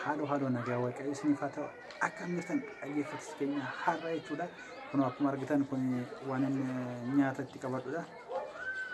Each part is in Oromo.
Haaloo haaloo nagaa waaqayyo isiniif haa ta'u akka jirtan dhaggeeffattoota keenya har'a jechuudha. Kun akkuma argitan kun waan inni nyaata itti qabadhudha.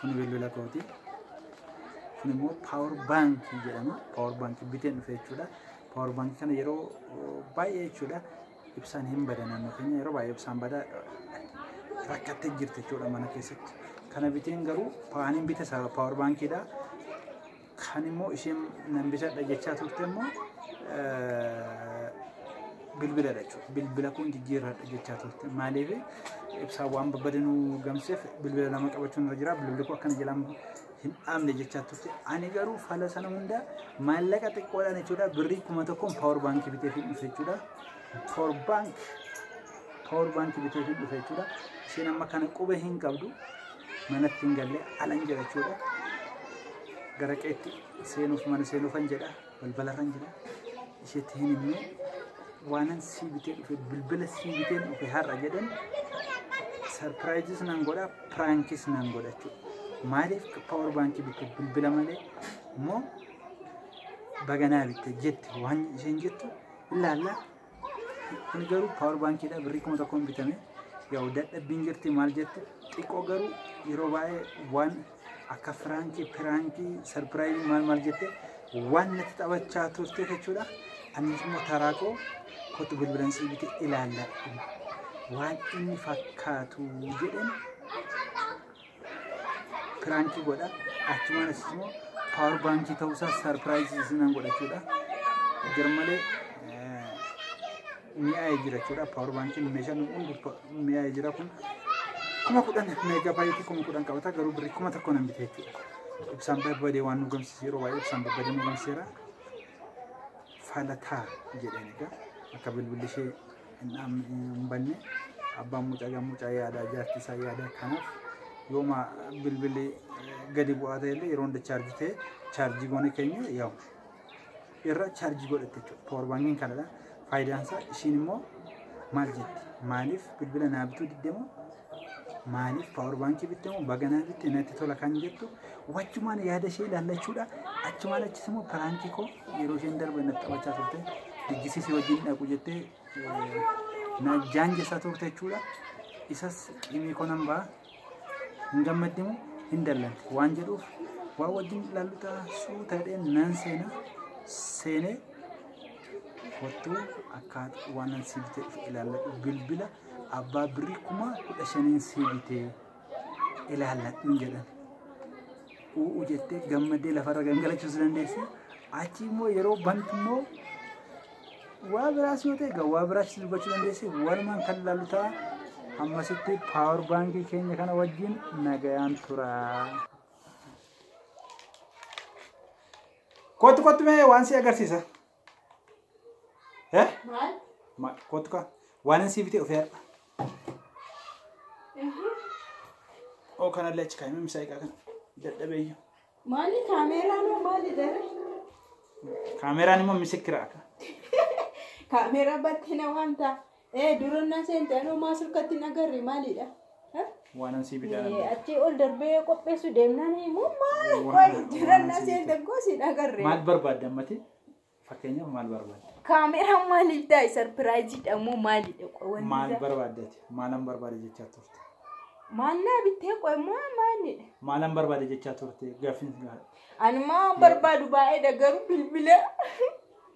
Kun bilbila kooti. Kun immoo paawar baankii jedhama. Paawar baankii biteen dhufe jechuudha. Paawar baankii kana yeroo baay'ee jechuudha ibsaan hin bada naannoo keenya yeroo baay'ee ibsaan bada rakkattee jirti jechuudha mana keessatti. Kana biteen garuu paaniin bite paawar baankiidha. Kan immoo isheen nan bitadha jechaa turte immoo bilbiladha jechuudha. Bilbila kun jijjiirradha jechaa turte. Maaliif ibsaa waan babbade nu gamseef bilbila lama qabachuun irra jira. Bilbilli kun akkana jalaan hin dhaabne jechaa turte. Ani garuu fala sana hunda maallaqa xiqqoodhaan jechuudha. Birrii kuma tokkoon paawar baankii bitee fi dhufe jechuudha. Paawar baankii paawar baankii bitee fi dhufe jechuudha. Isheen amma kana quba hin qabdu. manatti hin galle alan jira jechuudha. Gara qeetti seenuuf mana seenuufan jedha balbalarran jira. Isheetti hin himne waanan sii bitee dhufe bilbila sii bitee dhufe har'a jedhan sarpiraayizis nan godha piraankiis nan godha jechuudha. Maaliif paawar baankii bitte bilbila malee immoo baganaa bitte jetti waan isheen jettu ilaalla. Kuni garuu power baankiidha birrii kuma tokkoon bitame. Yaa'u dadhabbiin jirti maal jetti xiqqoo garuu yeroo baay'ee waan akka firaankii, piraankii, sarpiraayizii maal maal jette waan natti taphachaa turte jechuudha. Anis immoo taraa koo kottu bilbilan sii bitee ilaalladhu. Waan inni fakkaatu jedheen piraankii godha achumaan asis immoo paawar baankii ta'uu isaa sarpiraayizii isinan godha jechuudha garmalee mi'aa'ee jira jechuudha paawar baankiin meeshaan hundi mi'aa'ee jira kun kuma kudhan meegaa baay'eetii kuma kudhan qabata garuu birrii kuma tokko nan bite jechuudha ibsaan babbadee waan nu gamsiise yeroo baay'ee ibsaan babbadee nu gamsiseera fala taa jedheen egaa akka bilbilli ishee hin dhaamne hin banne abbaan mucaa egaa mucaa yaadaa jaartii isaa yaadaa kanaaf yooma bilbilli gadi bu'aa ta'e illee yeroo hunda chaarjii ta'e chaarjii goone keenya yaa'u irra chaarjii godhatte jechuudha poorbaankiin kanadha faayidaan isaa ishiin immoo maal jetti maaliif bilbila naa bituu diddemoo Maaliif paawar baankii bitte moo baganaa bitte natti tola kan jettu wachumaan yaada ishee ilaallachuudha. Achumaan achis immoo piraankii koo yeroo isheen darbe natti taphachaa turte dijjisiisii wajjin dhaqu jettee eh, na jaanjessaa turte jechuudha. Isas qimii koo nan ba'a. Hin gammaddi moo hin dallanti waan jedhuuf waa wajjin ilaallu ta'a suuta jedhee nan seena seenee kottuu akkaata waan nan siif jedhu ilaalladhu bilbila abbaa birrii kuma kudha shaniin sii bitee ilaalladhuun jedhan. Uuu jettee gammaddee lafarra gangalachuus dandeessi. Achi immoo yeroo bantu immoo waa biraas yoo ta'e egaa waa biraas dubbachuu dandeessi. Walumaan kan ilaallu ta'a. Hammasitti paawar baankii keenya kana wajjin nagayaan tura. Kottu kottu mee waan si agarsiisa. Eh? Maal? Ma- Kottu kaa. Waan hin siifite ofii har'a. Oo kanallee achi kaa'imee misaa egaa kana. Dadhabeeyyu. Maali kaameeraa moo maali daree? Kaameeraan immoo misikira akka. Kaameeraa battee na waamta. Ee durannaa seente anoo maa surkatti hin agarre maalidha? Eh? Waanan sii bitee Ee, achi ol darbee qopheessu deemnaan immoo maal Waan- qoy waan durannaa asii seente bitaa. gosi hin agarre. Maal barbaadda ammati? Fakkeenyaaf maal barbaadda? Kaameraa maaliif taa'e sarpiraayiziidha moo maalidha qoy wanti Maal isaa? barbaaddati? Maalan barbaade jechaa turte? Maal naa bittee qoy maa maalidha? Maalan barbaade jechaa turte? Gaaffiin si gaafadha. Ani maa barbaadu baay'eedha garuu bilbila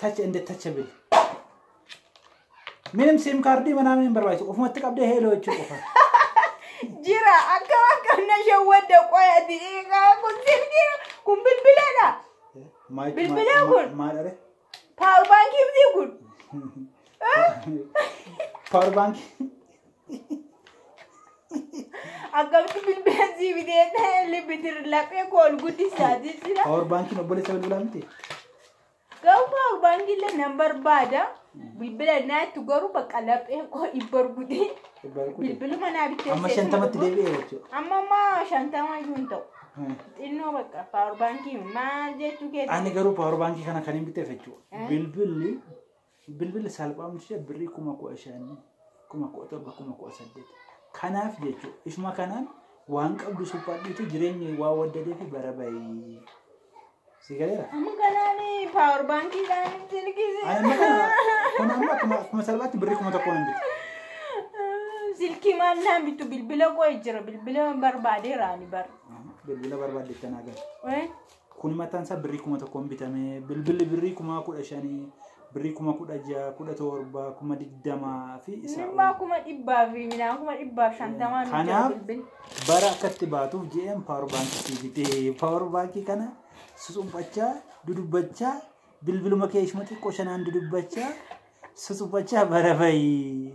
touch and touchable. Minim siim kaardii manaa minim barbaachisu ofumatti qabdee heeloo jechuu qofa. Jira akka akka na shawwadda qoya diiqaa kun silkii kun bilbiladha. Maal- Bilbilaa maal- kun? Maal are? Paawur baankii miti kun. Power bank. Akkamitti bilbilaan sii bitee ta'e libbitir laphee koo ol guddisaa jira. Power bankiin obboleessa bilbilaa miti. Garuu power bank illee nan barbaada. Bilbila naa itti garuu bakka laphee koo dhibba rukutee bilbiluma naa bitee. Amma shantamatti deebi'ee jechuudha. Amma amma shantama iyyuu hin ta'u. Xinnoo bakka power bankiin maal jechuu keessa. Ani garuu power bankii kana kan hin biteef jechuudha. Bilbilli Bilbilli salphaan ishee birrii kuma kudha shan, kuma kudha torba, kuma kudha saddeet. Kanaaf jechuudha. Isuma kanaan waan qabdu suphaadhuuti jireenyi waa waddadee fi bara bahii. Si galeera? Amma kanaanii paawar baankiidhaan Ani silkisi. amma kana kun amma akkuma akkuma salphaatti birrii kuma tokkoon hin bitu. Silkii maal naan bittu bilbila qo'e jira bilbila barbaadeera ani bara. Bilbila barbaadde itti naa gala. Eh? Kuni maxxansa birrii kuma tokkoon bitame. Bilbilli birrii kumaa kudha shanii, birrii kuma kudha ja'a, kudha torba, kuma digdamaa fi isaa Minimmaa ol. kuma dhibbaa fi midhaan kuma dhibbaaf shantamaa nu jira Kanaaf bilbil. bara akkatti baatuuf jedheen paawar baankii sii bitee. Paawar baankii kana susuphachaa, dudubbachaa, bilbiluma kee ishuma xiqqoo shanaan dudubbachaa, susuphachaa bara bahi.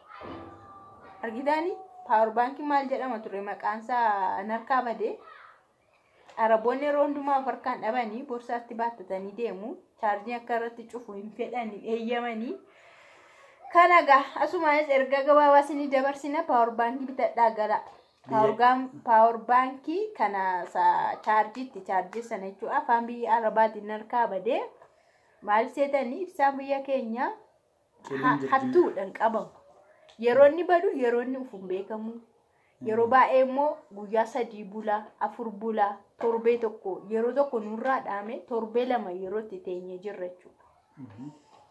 argitaani paawar baankii maal jedhama ture maqaansaa narkaa badee araboonni yeroo hundumaa of harkaan dhabanii borsaatti baattatanii deemu chaarjii akka irratti cufu hin fedhani eeyyamanii kana gaa asumaanis ergaa gabaabaa isinii dabarsina paawar baankii bitadhaa gala paawar baankii kana chaarjiitti chaarjii sana jechuudha afaan biyya arabaatiin narkaa badee maal seetanii ibsaan biyya keenya Ha- hattuudhaan qabamu yeroo inni badu yeroo inni ufuun beekamu yeroo baay'ee immoo guyyaa sadii bula afur bula torbee tokko yeroo tokko nurraa dhaame torbee lama yeroo itti teenye jirra jechuudha.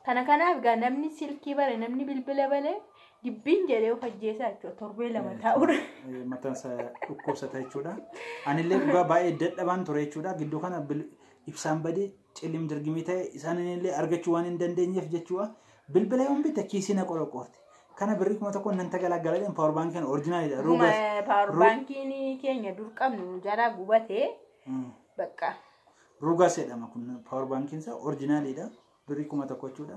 Kana kanaaf egaa namni silkii bare namni bilbila bale dibbiin jedhee of ajjeesaa jechuudha torbee lama taa'udha. Eh, mataan isaa dhukkubsata jechuudha. Anillee dhugaa baay'ee dadhabaan ture jechuudha. Gidduu kana bil- ibsaan badee Cillim dirgimii ta'e isaan illee argachuu waan hin dandeenyeef jechuudha. Bilbila yoon bitte kiisii na qoroqoorte. Kana birrii kuma tokkoon nan tagalaggala jedhan paawar baankiin orjinaalidha. Dhuma paawar baankiin keenya dur qabnu jalaa gubatee bakka. Rugas jedhama kun paawar baankiin isaa orjinaalidha. Birrii kuma tokko jechuudha.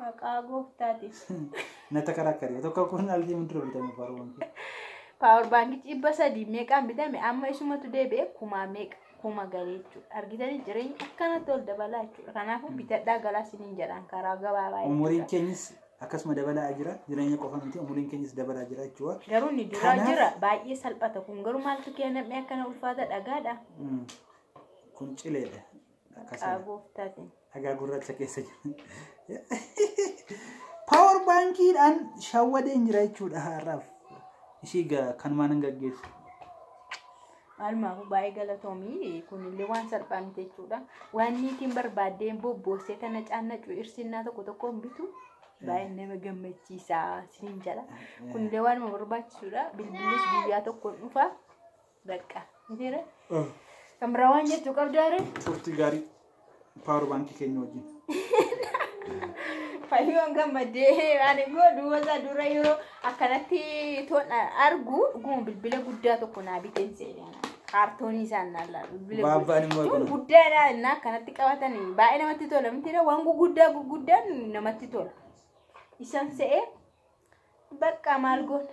Maqaa gooftaati. Na takarakkari. Tokko kun algii mudura bitame baruun. Paawar baankichi dhibba sadii meeqaan bitame amma isumatu deebi'e kumaa meeqa kuma galee jechuudha. Argitanii jireenyi akkanatti ol dabalaa jechuudha. Kanaafuu bitadhaa galaa siniin jedhaan karaa gabaabaa Umuriin jechuudha. keenyis akkasuma dabalaa jira. Jireenya qofa miti umuriin keenyis dabalaa jira jechuudha. Garuu ni duraa Kanaaf- jira baay'ee salphata kun garuu maaltu keenyamee akkana ulfaata dhagaadha. Mm. Kun cileedha. Maqaa gooftaatiin. Dhagaa gurraacha keessa jira. Paawar baankiidhaan shawwadeen jira jechuudha har'aaf. Ishii ga- kanumaan hin gaggeessu. Maalumaafu baay'ee galatoomii kunillee waan salphaa miti jechuudha. Waan niitiin barbaaddeen bobboossee tana caannacu irsinnaa tokko tokkoon bitu baay'ee nama gammachiisaa siin jala. Kunillee waanuma barbaachisudha. Bilbilis guyyaa tokkoon dhufa. Bakka. Mitiire. Kan biraa waan jettu qabdaare. Turtii gaarii paawar baankii keenya wajjin. Fayyoon gammadee ani godhu wasa dura yeroo akkanatti toon argu dhuguma bilbila guddaa tokko naa biteen seene. Kaartoonii isaan naa laalu. bilbila Baabbaan immoo guddaa. akkana. Guddaadha innaa akkanatti qabatan baay'ee namatti tola mitiire waan guguddaa guguddaan namatti tola. Isaan se'ee bakka maal goona.